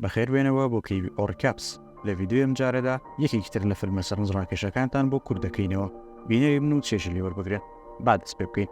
بەخێر بێنەوە بۆ کەیوی ئۆڕیکاپس لە ڤیدیۆی ئەم جارەدا یەکێکی تر لە فلمە سەرنج ڕاکێشەکانتان بۆ کورت دەکەینەوە بینەری بن و چێژی لێ وەربگرن با دەست پێ بکەین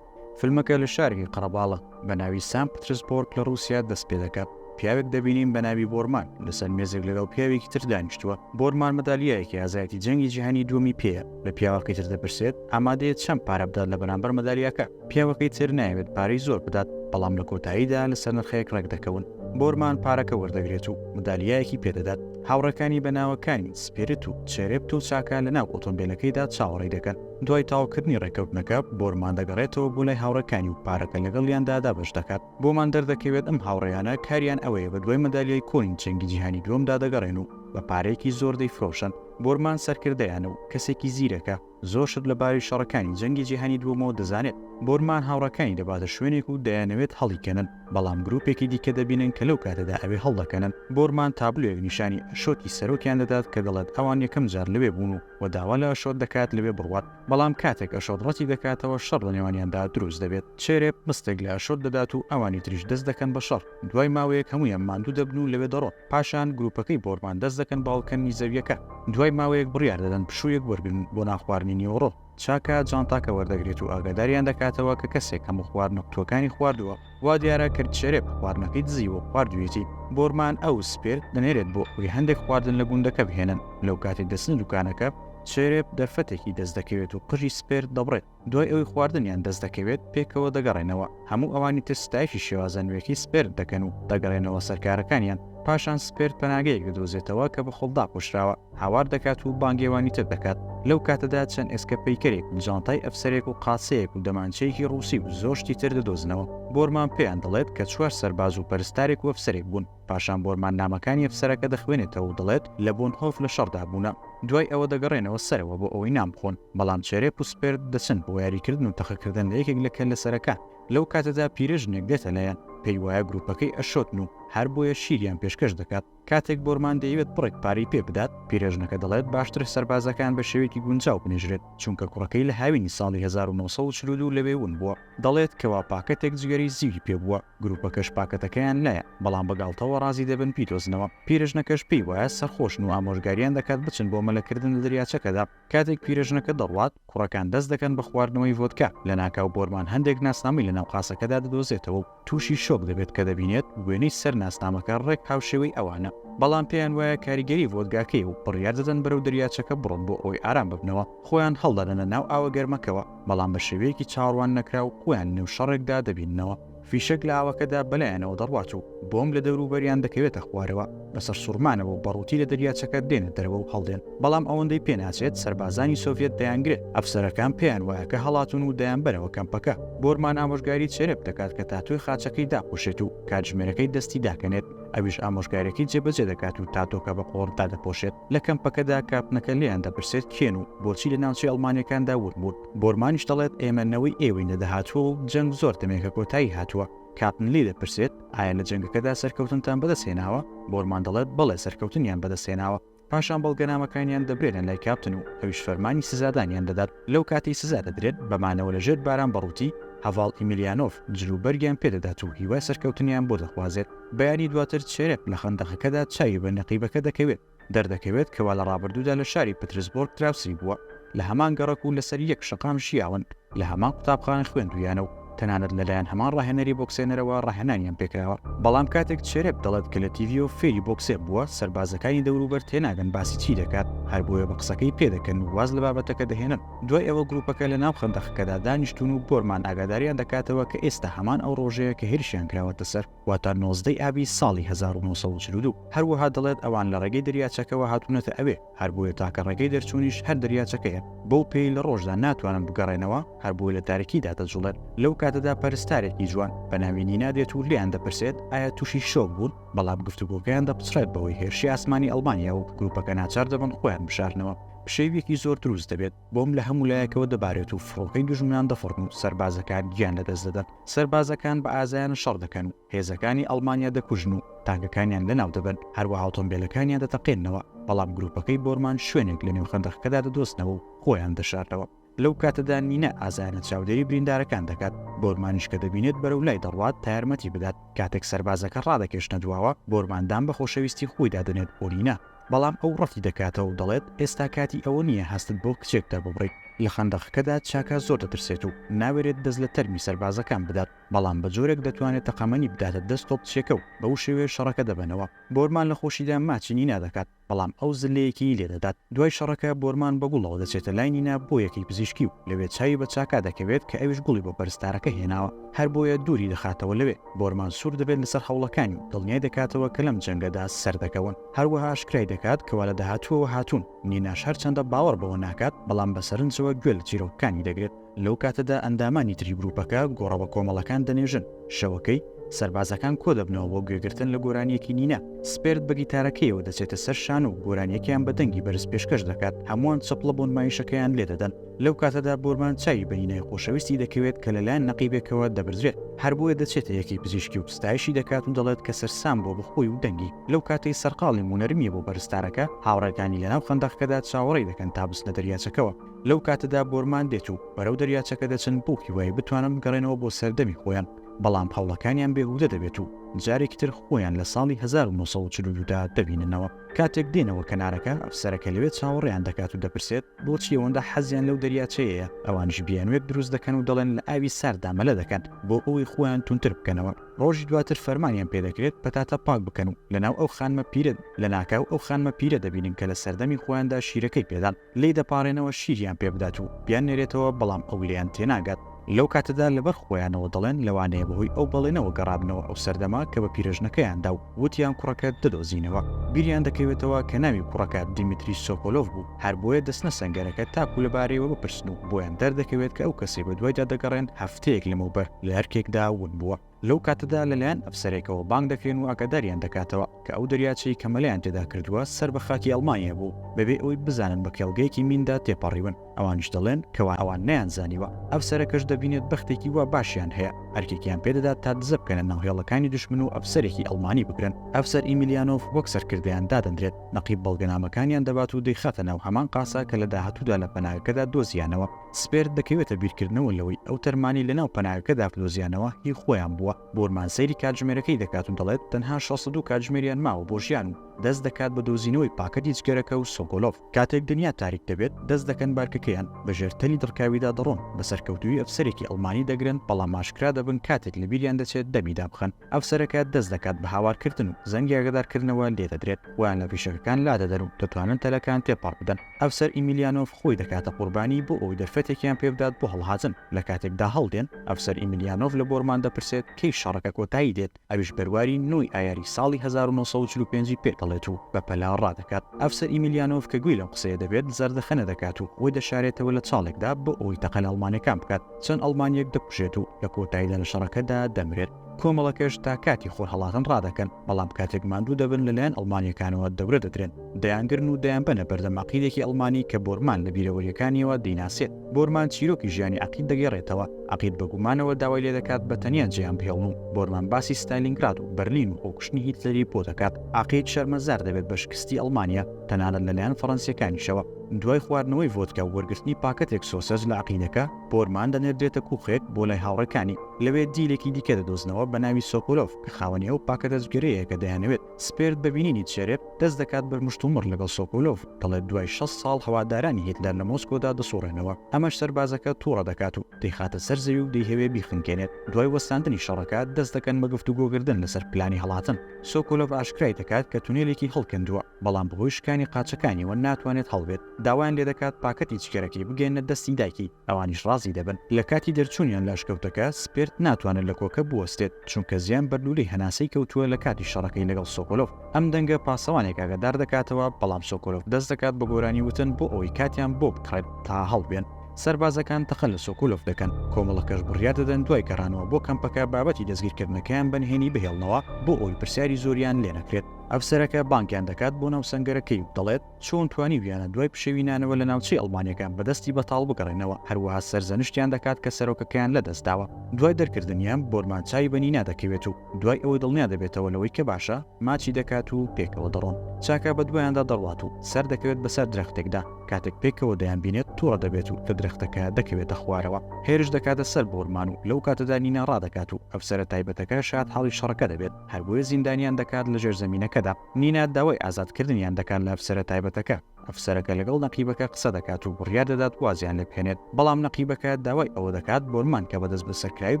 فلمەکە لە شارێکی قەڕەباڵە بە ناوی سان پترسبۆرگ لە ڕووسیا دەست پێ دەکات پیاوێک دەبینین بە ناوی بۆرمان لەسەر مێزێک لەگەڵ پیاوێکی تر دانیشتووە بۆرمان مەدالیایەکی ئازایەتی جەنگی جیهانی دووەمی پێیە لە پیاوەکەی تر دەپرسێت ئامادەیە چەند پارە بدات لە بەرامبەر مەدالیاکە پیاوەکەی تر نایەوێت پارەی زۆر بدات، بەڵام لە کۆتاییدا لەسەر نرخێک ڕێکدەکەون. بۆرمان پارەکە وەردەگرێت و مدالیایەکی پێدەدات. هاوڕێکانی بە ناوەکانی، سپیرت و چێرێبت و چاکا لەناو ئۆتۆمبێلەکەیدا چاوەڕێی دەکەن. دوای تەواوکردنی ڕێککەوتنەکە، بۆرمان دەگەڕێتەوە بۆ لای هاوڕێکانی و پارەکە لەگەڵیاندا دابەش دەکات. بۆمان دەردەکەوێت ئەم هاوڕێیانە کاریان ئەوەیە بە دوای مەدالیای کۆنی جەنگی جیهانی دووەمدا دەگەڕێن و بە پارەیەکی زۆر دەیفرۆشن. بۆرمان سەرکردەیانە و کەسێکی زیرەکە. زۆر شت لە باوی شەڕەکانی جەنگی جیهانی دووەمەوە دەزانێت. بۆرمان هاوڕێکانی دەباتە شوێنێک و دەیانەوێت هەڵیکەنن، بەڵام گرووپێکی دیکە دەبینن کە لەو کاتەدا ئەوێ هەڵدەکەنن. بۆرمان تابلۆیەک نیشانی ئەشۆتی سەرۆکیان دەدات کە دەڵێت ئەوان یەکەم جار لەوێ بوون و و داوا لە ئەشۆت دەکات لەوێ بڕوات، بەڵام کاتێک ئەشۆت ڕەتی دەکاتەوە، شەڕ لە نێوانیاندا دروست دەبێت. چێرێپ مستێک لە ئەشۆت دەدات و ئەوانی تریش دەست دەکەن بە شەڕ. دوای ماوەیەک هەموویان ماندوو دەبن و لەوێ دەڕۆن، پاشان گروپەکەی بۆرمان دەست دەکەن بە هەڵکەندنی زەوییەکە. دوای ماوەیەک بڕیار دەدەن پشوویەک وەرگرن بۆ نان خواردنی نیوەڕۆ. چاکا جانتاکە وەردەگرێت و ئاگاداریان دەکاتەوە کە کەسێک هەموو خواردنە قوتووەکانی خواردووە، وا دیارە کە چێرێ بە خواردنەکەی دزیوە و خواردوویەتی. بۆرمان ئەو سپێر دەنێرێت بۆ ئەوەی هەندێک خواردن لە گوندەکە بهێنن. لەو کاتەی دەچنە دوکانەکە، چێرێ دەرفەتێکی دەست دەکەوێت و قژی سپێر دەبڕێت. دوای ئەوەی خواردنیان دەست دەکەوێت پێکەوە دەگەڕێنەوە، هەموو ئەوانی تر ستایشی شێوازە نوێکەی سپێرد دەکەن و دەگەڕێنەوە سەر کارەکانیان، پاشان سپێرد پەناگەیەک دەدۆزێتەوە کە بە خۆڵ داپۆشراوە، هاوار دەکات و بانگەوانی تر دەکات، لەو کاتەدا چەند ئێسکە پەیکەرێک و جانتای ئەفسەرێک و قادسەیەک و دەمانچەیەکی ڕووسی و زۆر شتی تر دەدۆزنەوە، بۆرمان پێیان دەڵێت کە چوار سەرباز و پەرستارێک و ئەفسەرێک بوون. پاشان بۆرمان نامەکانی ئەفسەرەکە دەخوێنێتەوە و دەڵێت لە بۆنهۆف لە شەڕدا بوونە. دوای ئەوە دەگەڕێنەوە سەرەوە بۆ ئەوەی نان بخۆن، بەڵام چێرێپ و سپێرد دەچن بۆ یاریکردن و تەقەکردن لە یەکێک لە کەللەسەرەکان. لەو کاتەدا پیرەژنێک دێتە لایان، پێی وایە گروپەکەی ئەشۆتن و هەر بۆیە شیریان پێشکەش دەکات. کاتێک بۆرمان دەیەوێت بڕێک پارەی پێ بدات، پیرەژنەکە دەڵێت باشترە سەربازەکان بە شێوەیەکی گونجاو بنێژرێت، چونکە کوڕەکەی لە هاوینی ساڵی هەزار و نۆ سەد و چل و دوو لەوێ ون بووە. دەڵێت کەوا پاکەتێک جگەرەی زیوی پێ بووە، گروپەکەش پاکەتەکەیان لایە، بەڵام بە گاڵتەوە ڕازی دەبن بیدۆزنەوە، پیرەژنەکەش پێی وایە سەرخۆشن و ئامۆژگاریان دەکات بچن بۆ مەلەکردن لە دەریاچەکەدا، کاتێک پیرەژنەکە دەڕوات، کوڕەکان دەست دەکەن بە خواردنەوەی ڤۆدکا، لەناکاو بۆرمان هەندێک ناسنامەی لە ناو قاسەکەدا دەدۆزێتەوە و تووشی شۆک دەبێت کە دەبینێت وێنەی سەر ناسنامەکە ڕێک هاوشێوەی ئەوانە، بەڵام پێیان وایە کاریگەری ڤۆدگاکەیە و بڕیار دەدەن بەرەو دەریاچەکە بڕۆن بۆ ئەوەی ئارام ببنەوە، خۆیان هەڵدەدەنە ناو ئاوە گەرمەکەوە، بەڵام بە شێوەیەکی چاوەڕوان نەکراو خۆیان لەنێو شەڕێکدا دەبیننەوە، فیشەک لە ئاوەکەدا بەلایانەوە دەڕوات و بۆمب لە دەوروبەریان دەکەوێتە خوارەوە، بە سەرسوڕمانەوە و بەڕووتی لە دەریاچەکە دێنە دەرەوە و هەڵدێن، بەڵام ئەوەندەی پێناچێت سەربازانی سۆڤیەت دەیانگرێت، ئەفسەرەکان پێیان وایە کە هەڵاتوون و دەیانبەنەوە کەمپەکە، بۆرمان ئامۆژگاری چێرێپ دەکات کە تاتۆی خاچەکەی داپۆشێت و کاتژمێرەکەی دەستی داکەنێت. ئەویش ئامۆژگاریەکەی جێبەجێ دەکات و تاتۆکە بە قۆڕ دادەپۆشێت. لە کەمپەکەدا کاپتنەکە لێیان دەپرسێت کێن و بۆچی لە ناوچەی ئەڵمانیەکاندا ورد بوون. بۆرمانیش دەڵێت ئێمە نەوەی ئێوەین لە داهاتووە و جەنگ زۆر دەمێکە کۆتایی هاتووە. کاپتن لێی دەپرسێت ئایا لە جەنگەکەدا سەرکەوتنتان بەدەست هێناوە؟ بۆرمان دەڵێت بەڵێ سەرکەوتنیان بەدەست هێناوە. پاشان بەڵگەنامەکانیان دەبرێنە لای کاپتن و ئەویش فەرمانی سزادانیان دەدات، لەو کاتەی سزا دەدرێت بە مانەوە لە ژێر باران بە ڕووتی، هەڤاڵ ئیمیلیانۆف، جل و بەرگیان پێ دەدات و هیوای سەرکەوتنیان بۆ دەخوازێت. بەیانی دواتر چێرێت لە خەندەقەکەدا چاوی بە نەقیبەکە دەکەوێت، دەردەکەوێت کەوا لە ڕابردوودا لە شاری پترسبۆرگ دراوسێی بووە، لە هەمان گەڕەک و لەسەر یەک شەقام ژیاون، لە هەمان قوتابخانە خوێندوویانە و تەنانەت لەلایەن هەمان ڕاهێنەری بۆکسێنەرەوە ڕاهێنانیان پێکراوە، بەڵام کاتێک چێرێڤ دەڵێت کە لە تیڤییەوە فێری بۆکسێ بووە، سەربازەکانی دەوروبەر تێناگەن باسی چی دەکات، هەربۆیە بە قسەکەی پێدەکەن و واز لە بابەتەکە دەهێنن. دوای ئەوە گروپەکە لەناو خەندەقەکەدا دانیشتوون و بۆرمان ئاگاداریان دەکاتەوە کە ئێستا هەمان ئەو ڕۆژەیە کە هێرشیان کراوەتە سەر. واتە نۆزدەی ئابی ساڵی هەزار و نۆ سەد و چل و دوو، هەروەها دەڵێت ئەوان لە ڕێگەی دەریاچەکەوە هاتوونەتە ئەوێ، هەربۆیە تاکە ڕێگەی دەرچوونیش هەر دەریاچەکەیە، بەو پێی لە ڕۆژدا ناتوانن بگەڕێنەوە، هەربۆیە لە تاریکیدا دەجوڵێن، لەو کاتەدا پەرستارێکی جوان بە ناوی نینا دێت و لێیان دەپرسێت ئایا تووشی شۆک بوون، بەڵام گفتوگۆکەیان دەپچڕێت بەوەی هێرشی ئاسمانی ئەڵمانیا و گروپەکە ناچار دەبن خۆیان بشارنەوە، پشێوییەکی زۆر دروست دەبێت. بۆمب لە هەموو لایەکەوە دەبارێت و فڕۆکەی دوژمنان دەفڕن و سەربازەکان گیان لەدەست دەدەن. سەربازەکان بە ئازایانە شەڕ دەکەن و هێزەکانی ئەڵمانیا دەکوژن و تانکەکانیان لەناو دەبەن، هەروەها ئۆتۆمبێلەکانیان دەتەقێننەوە، بەڵام گرووپەکەی بۆرمان شوێنێک لەنێو خەندەقەکەدا دەدۆزنەوە و خۆیان دەشارنەوە. لەو کاتەدا نینا ئازایانە چاودێری بریندارەکان دەکات، بۆرمانیش کە دەبینێت بەرەو لای دەڕوات تا یارمەتی بدات. کاتێک سەربازەکە ڕادەکێشنە دواوە، بۆرمان دان بە خۆشەویستی خۆیدا دەنێت بۆ نینا. بەڵام ئەو ڕەتی دەکاتەوە و دەڵێت، ئێستا کاتی ئەوە نییە هەستت بۆ کچێک دەرببڕیت. لە خەندەقەکەدا چاکا زۆر دەترسێت و ناوێرێت دەست لە تەرمی سەربازەکان بدات، بەڵام بە جۆرێک دەتوانێت تەقەمەنی بداتە دەست تۆپچیەکە و بەو شێوەیە شەڕەکە دەبەنەوە. بۆرمان لە خۆشیدا ماچی نینا دەکات، بەڵام ئەو زللەیەکیی لێ دەدات. دوای شەڕەکە بۆرمان بە گوڵەوە دەچێتە لای نینا بۆ یەکەی پزیشکی و لەوێ چاوی بە چاکا دەکەوێت کە ئەویش گوڵی بۆ پەرستارەکە هێناوە، هەر بۆیە دووری دەخاتەوە لەوێ. بۆرمان سوور دەبێت لەسەر هەوڵەکانی و دڵنیای دەکاتەوە کە لەم جەنگەدا سەردەکەون. هەروەها ئاشکرای دەکات کەوا لە داهاتووەوە هاتوون، نیناش هەرچەندە باوەڕ بەوە ناکات، بەڵام بە سەرنجەوە گوێ لە چیرۆکەکانی دەگرێت، لەو کاتەدا ئەندامانی تری گروپەکە گۆڕە بە کۆمەڵەکان دەنێژن، شەوەکەی، سەربازەکان کۆدەبنەوە بۆ گوێگرتن لە گۆرانییەکی نینا، سپێرت بە گیتارەکەیەوە دەچێتە سەر شانۆ و گۆرانییەکەیان بە دەنگی بەرز پێشکەش دەکات، هەمووان چەپڵە بۆ نمایشەکەیان لێدەدەن. لەو کاتەدا بۆرمان چاوی بە نینای خۆشەویستی دەکەوێت کە لەلایەن نەقیبێکەوە دەبردرێت، هەر بۆیە دەچێتە یەکەی پزیشکی و ستایشی دەکات و دەڵێت کە سەرسام بووە بە خۆی و دەنگی، لەو کاتەی سەرقاڵیم و نەرمییە بۆ پەرستارەکە، هاوڕێکانی لەناو خەندەقەکەدا چاوەڕێی دەکەن تا بچنە دەریاچەکەوە، لەو کاتەدا بۆرمان دێت و بەرەو دەریاچەکە دەچن بەو هیوایەی بتوانن بگەڕێنەوە بۆ سەردەمی خۆیان، بەڵام هەوڵەکانیان بێهودە دەبێت و جارێکی تر خۆیان لە ساڵی هەزار و نۆ سەد و چل و دوو دا دەبیننەوە. کاتێک دێنەوە کەنارەکە، ئەفسەرەکە لەوێ چاوەڕێیان دەکات و دەپرسێت، بۆچی ئەوەندە حەزیان لەو دەریاچەیەیە؟ ئەوانیش بیانووێک دروست دەکەن و دەڵێن لە ئاوی سارددا مەلە دەکەن بۆ ئەوەی خۆیان توندتر بکەنەوە. ڕۆژی دواتر فەرمانیان پێ دەکرێت پەتاتە پاک بکەن و لەناو ئەو خانمە پیرە لەناکاو ئەو خانمە پیرە دەبینن کە لە سەردەمی خۆیاندا شیرەکەی پێدان. لێی دەپاڕێنەوە شیریان پێ بدات و بیاننێرێتەوە، بەڵام ئەو لێیان تێناگات. لەو کاتەدا لەبەر خۆیانەوە دەڵێن، لەوانەیە بەهۆی ئەو بەڵێنەوە گەڕابنەوە ئەو سەردەمە کە بە پیرەژنەکەیان دا و وتیان کوڕەکەت دەدۆزینەوە. بیریان دەکەوێتەوە کە ناوی کوڕەکە دیمیتری سۆکۆلۆڤ بوو، هەر بۆیە دەچنە سەنگەرەکە تاکو لەبارەیەوە بپرسن و بۆیان دەردەکەوێت کە ئەو کەسەی بەدوایدا دەگەڕێن هەفتەیەک لەمەوبەر لە ئەرکێکدا ون بووە. لەو کاتەدا لەلایەن ئەفسەرێکەوە بانگ دەکرێن و ئاگاداریان دەکاتەوە کە ئەو دەریاچەی کە مەلەیان تێدا کردووە سەر بە خاکی ئەڵمانیا بوو، بەبێ ئەوەی بزانن بە کێڵگەیەکی میندا تێپەڕیون، ئەوانیش دەڵێن کەوا ئەوان نەیانزانیوە، ئەفسەرەکەش دەبینێت بەختێکی وا باشیان هەیە، ئەرکێکیان پێدەدات تا دزە بکەنە ناو هێڵەکانی دوشمن و ئەفسەرێکی ئەڵمانی بگرن، ئەفسەر ئیمیلیانۆف وەک سەرکردەیان دادەنرێت، نەقیب بەڵگەنامەکانیان دەبات و دەیخاتە ناو هەمان قاسە کە لە داهاتوودا لە پەناگەکەدا دۆزییانەوە. سپێرت دەکەوێتە بیرکردنەوە لەوەی ئەو تەرمانەی لەناو پەناگەکەدا بدۆزیانەوە هی خۆیان بووە، بۆرمان سەیری کاتژمێرەکەی دەکات و دەڵێت تەنها شەست و دوو کاتژمێریان ماوە بۆ ژیان و دەست دەکات بە دۆزینەوەی پاکەتی جگەرەکە و سۆکۆلۆڤ کاتێک دنیا تاریک دەبێت دەست دەکەن بارکەکەیان بە ژێر تەلی دڕکاویدا دەڕۆن بە سەرکەوتووی ئەفسەرێکی ئەڵمانی دەگرن بەڵام ئاشکرا دەبن کاتێک لەبیریان دەچێت دەمی دابخەن. ئەفسەرەکە دەست دەکات بە هاوارکردن و زەنگی ئاگادارکردنەوە لێ دەدرێت و لە فیشەکەکان لادەدەن و دەتوانن تەلەکان تێپەڕ بدەن. ئەفسەر ئیمیلیانۆڤ خۆی دەکاتە قوربانی بۆ ئەوەی دەرفەتێکیان پێ بدات بۆ هەڵهاتن. لە کاتێکدا هەڵدێن، ئەفسەر ئیمیلیانۆڤ لە بۆرمان دەپرسێت کەی شەڕەکە کۆتایی دێت، ئەویش بەرواری نۆ ی ئایاری ساڵی هەزار و نۆ سەد و چل و پێنج ی پێ دەڵێت و بە پەلە ڕادەکات. ئەفسەر ئیمیلیانۆڤ کە گوێی لەم قسەیە دەبێت، زەردەخەنە دەکات و خۆی دەشارێتەوە لە چاڵێکدا بۆ ئەوەی تەقە لە ئەڵمانەکان بکات. چەند ئەڵمانییەک دەکوژێت و لە کۆتاییدا لە شەڕەکەدا دەمرێت. کۆمەڵەکەش تا کاتی خۆرهەڵاتن ڕادەکەن، بەڵام کاتێک ماندوو دەبن لەلایەن ئەڵمانییەکانەوە دەورە دەدرێن، دەیانگرن و دەیانبەنە بەردەم عەقیدێکی ئەڵمانی کە بۆرمان لە بیرەوەرییەکانییەوە دەیناسێت. بۆرمان چیرۆکی ژیانی عەقید دەگێڕێتەوە، عەقید بە گومانەوە داوای لێدەکات بە تەنیا جێیان بهێڵن و بۆرمان باسی ستالینگراد و بەرلین و خۆکوشتنی هیتلەری بۆ دەکات. عەقید شەرمەزار دەبێت بە شکستی ئەڵمانیا، تەنانەت لەلایەن فەڕەنسییەکانیشەوە. دوای خواردنەوەی ڤۆدکا و وەرگرتنی پاکەتێک سۆسەج لە عەقیدەکە، بۆرمان دەنێردرێتە کووخێک بۆ لای هاوڕێکانی، لەوێ دیلێکی دیکە دەدۆزنەوە بە ناوی سۆکۆلۆڤ کە خاوەنی ئەو پاکەتە جگەرەیە کە دەیانەوێت، سپێرت بە بینینی چێرێڤ دەست دەکات بەر مشتومڕ لەگەڵ سۆکۆلۆڤ، دەڵێت دوای شەست ساڵ هەوادارانی هیتلەر لە مۆسکۆدا دەسوڕێنەوە، ئەمەش سەربازەکە توڕە دەکات و دەیخاتە سەر زەوی و دەیهەوێ بیخنکێنێت، دوای وەستاندنی شەڕەکە دەست دەکەن بە گفتوگۆکردن لەسەر پلانی هەڵاتن، سۆکۆلۆڤ ئاشکرای دەکات کە تونێلێکی هەڵکەندووە. بەڵام بەهۆی شکانی قاچەکانیەوە ناتوانێت هەڵبێت، داوایان لێدەکات پاکەتی جگەرەکەی بگەیەننە دەستی دایکی، ئەوانیش ڕازی دەبن، لەکاتی دەرچوونیان لە ئەشکەوتەکە، سپێرت ناتوانێت لە کۆکە بوەستێت، چونکە زیان بەر لولەی هەناسەی کەوتووە لەکاتی شەڕەکەی لەگەڵ سۆکۆلۆڤ، ئەم دەنگە پاسەوانێک ئاگادار دەکاتەوە، بەڵام سۆکۆلۆڤ دەست دەکات بە گۆرانی وتن بۆ ئەوەی کاتیان بۆ بکڕێت تا هەڵبێن، سەربازەکان تەقە لە سۆکۆلۆڤ دەکەن، کۆمەڵەکەش بڕیار دەدەن دوای گەڕانەوە بۆ کەمپەکە بابەتی دەستگیرکردنەکەیان بەنهێنی بهێڵنەوە بۆ ئەوەی پرسیاری زۆریان لێنەکرێت. ئەفسەرەکە بانگیان دەکات بۆ ناو سەنگەرەکەی و دەڵێت، چۆن توانیویانە دوای پشێوی نانەوە لە ناوچەی ئەڵمانییەکان بە دەستی بەتاڵ بگەڕێنەوە، هەروەها سەرزەنشتیان دەکات کە سەرۆکەکەیان لەدەستداوە. دوای دەرکردنیان، بۆرمان چاوی بە نینا دەکەوێت و دوای ئەوەی دڵنیا دەبێتەوە لەوەی کە باشە، ماچی دەکات و پێکەوە دەڕۆن. چاکا بەدوایاندا دەڕوات و سەردەکەوێت بەسەر درەختێکدا، کاتێک پێکەوە دەیانبینێت توڕە دەبێت و لە درەختەکە دەکەوێتە خوارەوە. هێرش دەکاتە سەر بۆرمان و لەو کاتەدا نینا ڕادەکات و ئەفسەرە تایبەتەکە شاد حاڵی شەڕەکە دەبێت. هەربۆیە زیندانیان دەکات لە ژێر زەمینەکەدا نینا داوای ئازادکردنیان دەکات لە ئەفسەرە تایبەتەکە ئەفسەرەکە لەگەڵ نەقیبەکە قسە دەکات و بڕیار دەدات وازیان لێ بهێنێت بەڵام نەقیبەکە داوای ئەوە دەکات بۆرمان کە بەدەست بەسەرکراوی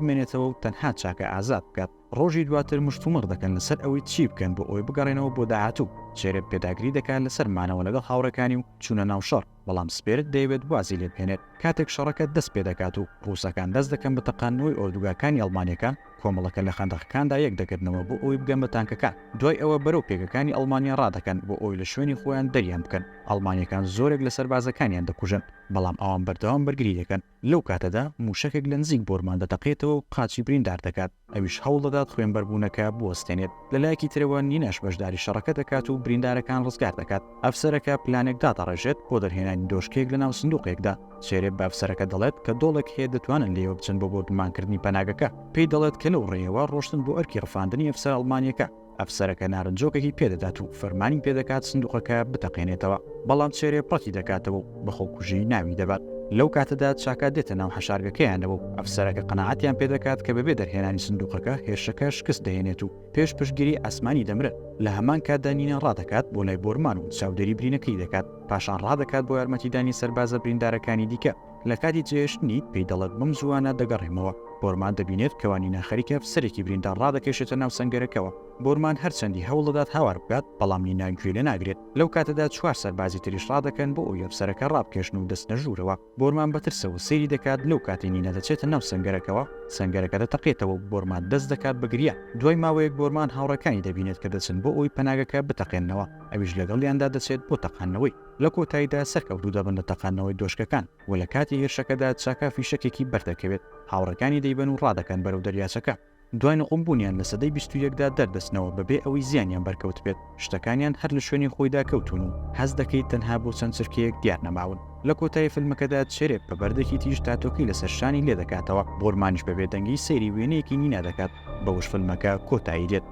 بمێنێتەوە و تەنها چاکە ئازاد بکات ڕۆژی دواتر مشتومڕ دەکەن لەسەر ئەوەی چی بکەن بۆ ئەوەی بگەڕێنەوە بۆ داهاتوو چێرێب پێداگری دەکات لەسەر مانەوە لەگەڵ هاوڕێکانی و چوونە ناو شەڕ بەڵام سپێرک دەیەوێت وازی لێبهێنێت، کاتێک شەڕەکە دەست پێدەکات و ڕووسەکان دەست دەکەن بە تەقاندنەوەی ئۆردوگاکانی ئەڵمانیەکان، کۆمەڵەکە لە خەندەقەکاندا یەکدەگرنەوە بۆ ئەوەی بگەن بە تانکەکان، دوای ئەوە بەرەو پێگەکانی ئەڵمانیا ڕادەکەن بۆ ئەوەی لە شوێنی خۆیان دەریان بکەن، ئەڵمانیەکان زۆرێک لە سەربازەکانیان دەکوژن، بەڵام ئەوان بەردەوام بەرگری دەکەن. لەو کاتەدا مووشەکێک لە نزیک بۆرمان دەتەقێتەوە و قاچی بریندار دەکات، ئەویش هەوڵ دەدات خوێنبەربوونەکە بوەستێنێت، لە لایەکی ترەوە نیناش بەشداری شەڕەکە دەکات و بریندارەکان ڕزگار دەکات، ئەفسەرەکە پلانێک دادەڕێژێت بۆ دەرهێنانی دۆشکەیەک لە ناو سندووقێکدا، سێرێپ بە ئەفسەرەکە دەڵێت کە دۆڵێک هەیە دەتوانن لێیەوە بچن بۆ بۆردومانکردنی پەناگەکە، پێی دەڵێت کە لەو ڕێیەوە ڕۆشتن بۆ ئەرکی ڕفاندنی ئەفسەرە ئەڵمانییەکە. ئەفسەرەکە نارنجۆکەکی پێدەدات و فەرمانی پێدەکات سندوقەکە بتەقێنێتەوە، بەڵام چێرێ پڕتی دەکاتەوە و بە خۆکوژی ناوی دەبات. لەو کاتەدا چاکا دێتە ناو حەشارگەکەیانەوە و ئەفسەرەکە قەناعەتیان پێدەکات کە بەبێ دەرهێنانی سندوقەکە هێرشەکە شکست دەهێنێت و پێش پشتگیری ئاسمانی دەمرن. لە هەمان کاتدا نینا ڕادەکات بۆ لای بۆرمان و چاودێری برینەکەی دەکات، پاشان ڕادەکات بۆ یارمەتیدانی سەربازە بریندارەکانی دیکە. لە کاتی جێهێشتنی پێی دەڵێت، بەم زووانە دەگەڕێمەوە. بۆرمان دەبینێت کە وانینا خەریکە ئەفسەرێکی بریندار ڕادەکێشێتە ناو سەنگەرەکەوە. بۆرمان هەرچەندی هەوڵدەدات هاوار بکات، بەڵام نینا گوێی لێ ناگرێت. لەو کاتەدا چوار سەربازی تریش ڕادەکەن بۆ ئەوی ئەفسەرەکە ڕابکێشن و دەچنە ژوورەوە. بۆرمان بە ترسەوە سەیری دەکات، لەو کاتەی نینا دەچێتە ناو سەنگەرەکەوە، سەنگەرەکە دەتەقێتەوە و بۆرمان دەست دەکات بە گریا. دوای ماوەیەک بۆرمان هاوڕێکانی دەبینێت کە دەچن بۆ ئەوی پەناگەکە بتەقێننەوە، ئەویش لەگەڵیاندا دەچێت بۆ تەقاندنەوەی. لە کۆتاییدا سەرکەوتوو دەبن لە تەقاندنەوەی دۆشکەکان و لە کاتی هێرشەکەدا چاکا فیشەکێکی بەر دەکەوێت، هاوڕێکانی دەیبەن و ڕادەکەن بەرەو دەریاچەکە. دوای نقوم بوونیان لە سەدەی بیست و یەکدا دەردەچنەوە بەبێ ئەوەی زیانیان بەرکەوتبێت، شتەکانیان هەر لە شوێنی خۆیدا کەوتوون و هەست دەکەیت تەنها بۆ چەند چرکەیەک دیار نەماون. لە کۆتایی فیلمەکەدا چێرێپ بە بەردێکی تیژ تاتۆکەی لەسەر شانی لێ دەکاتەوە، بۆرمانیش بە بێدەنگی سەیری وێنەیەکی نینا دەکات. بەوەش فیلمەکە کۆتایی دێت.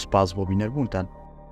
سوپاس بۆ بینەربوونتان.